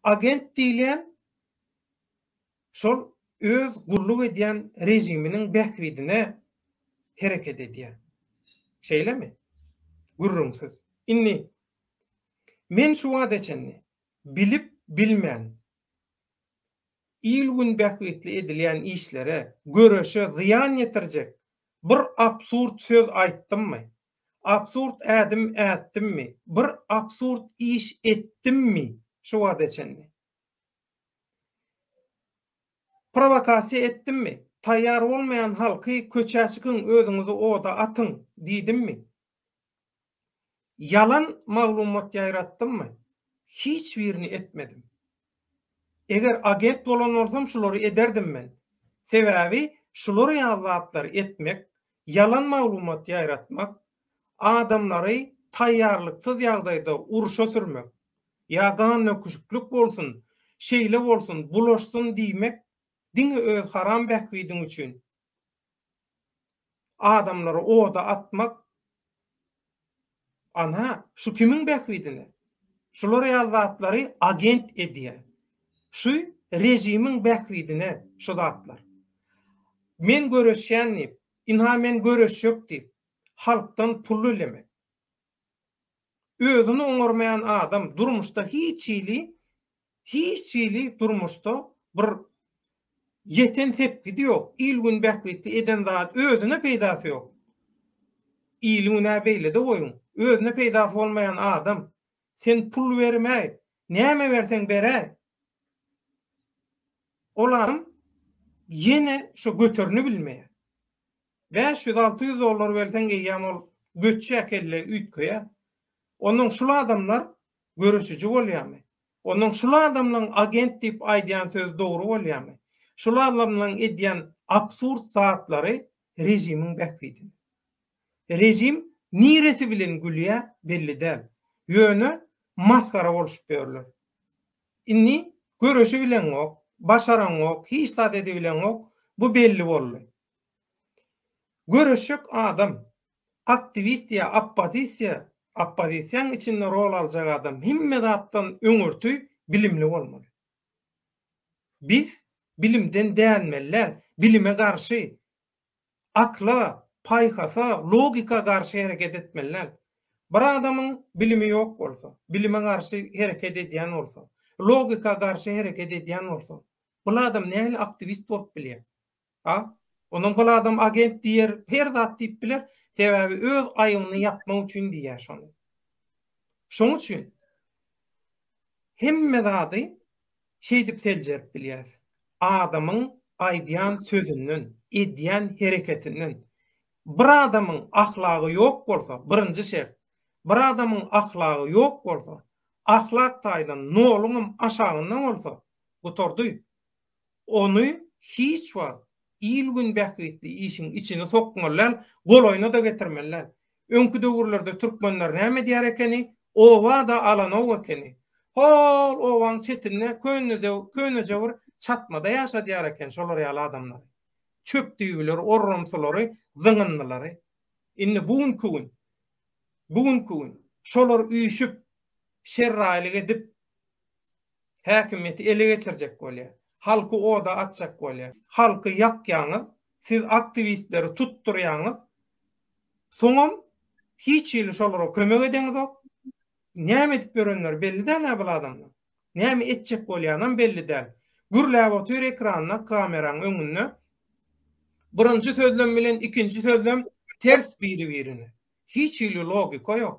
Agent diýilýän şol öz gulluk edýän režiminiň bähbidine hereket edýär. Şeýlemi? Gürrüňsiz. Indi men şu wagta çenli bilip bilmän il-gün bähbitli edilýän işlere, göreşe zyýan ýetirjek bir absurd söz aýtdymmy? Absurd ädim ätdimmi? Bir absurd iş etdimmi şu wagta çenli? Prowokasiýa etdimmi? Taýýar bolmaýan halky köçä çykyň, özüňizi oda atyň diýdimmi? Ýalan maglumat ýaýratdymmy? Hiç birini etmedim. Eger agent bolan bolsam şulary ederdim men. Sebäbi şular ýaly zatlary etmek, ýalan maglumat ýaýratmak, adamlary taýýarlyksyz ýagdaýda urşa sürmek, ýa gannöküşiklik bolsun, şeýle bolsun, bulaşsyn diýmek diňe öz haram bähbidiň üçin. adamlary oda atmak, ana, şu kimiň bähbidine? Şular ýaly zatlary agent edýär. Şu režimiň bähbidine şu zatlar. Men göreşýän diýip, ynha men göreşjek diýip, halkdan pul dilemek. Özüni oňarmaýan adam durmuşda hiç hili Hiç hili durmuşda bir ýeten sepgidi ýok. Il-gün bähbitli eden zady özüne peýdasy ýok. Ili günä beýlede goýuň. Özüne peýdasy bolmaýan adam. Sen pul bermäý. Näme berseň beräý. Ol adam ýene şo göterini bilmeýär. Bäş ýüz, alty ýüz dollar berseň eýýäm ol göçjä kelle üýtgeýär. Onnoň şul adamlar Göreşiji bolýamy? Ondan şul adamlaň agent diýip aýdýan sözi dogry bolýamy? Şul adamlaň edýän absurd zatlary rejimiň bähbidine. Rejim niresi bilen gülýä belli däl. Ýöne masgara bolşup ýörler. Indi göreşibileňok, başaraňok, hiç zat edibileňok, bu belli boldy. Göreşjek adam, Aktiwist ýa oppozisiýa, oppozisiýaň içinde rol aljak adam hemme zatdan öňürti bilimli bolmaly. Biz bilimden dänmellän, bilime garşy, akla, paýhasa, logika garşy hereket etmellän. Bir adamyň bilimi ýok bolsa, bilime garşy hereket edýän bolsa, logika garşy hereket edýän bolsa, bul adam nähili aktiwist bolup bilýär? A. Onam hol adam agent diýer, her zat diýip biler, sebäbi öz aýybyny ýapmak üçin diýýär şony. Şoň üçin hemme zady şeýdip seljerip bilýäs. Adamyň aýdýan sözünden, edýän hereketinden. Bir adamyň ahlagy ýok bolsa, birinji şert, bir adamyň ahlagy ýok bolsa, ahlak taýdan noluňam aşagynda bolsa, gutardy. ony hiç wagt il-gün bähbitli işiň içine sokmaly däl, golaýyna-da getirmeli däl. Öňki döwürlerde türkmenler näme edýär ekeni, oba-da alanok ekeni. Hol obaň çetinde köneje bir çatmada ýaşadýar eken şolar ýaly adamlary. Çöp-düýbüleri, orrumsulary, zyňyndylary. Indi bu günki gün, bu günki gün şolar üýşüp, şerraýlyk edip, Häkimiýeti ele geçirjek bolýar. Halky oda atjak bolýar. Halky ýakýaňyz, siz aktiwistleri tutdurýaňyz. Soňam hiç hili şolara kömek edeňizok. Näme edip ýörenleri belli däl-ä bul adamlaryň. Näme etjek bolýanam belli däl. Gürläp otyr ekranda, kameraň öňünde. Birinji sözlem bilen ikinji sözlem ters biri-birine. Hiç hili logika ýok.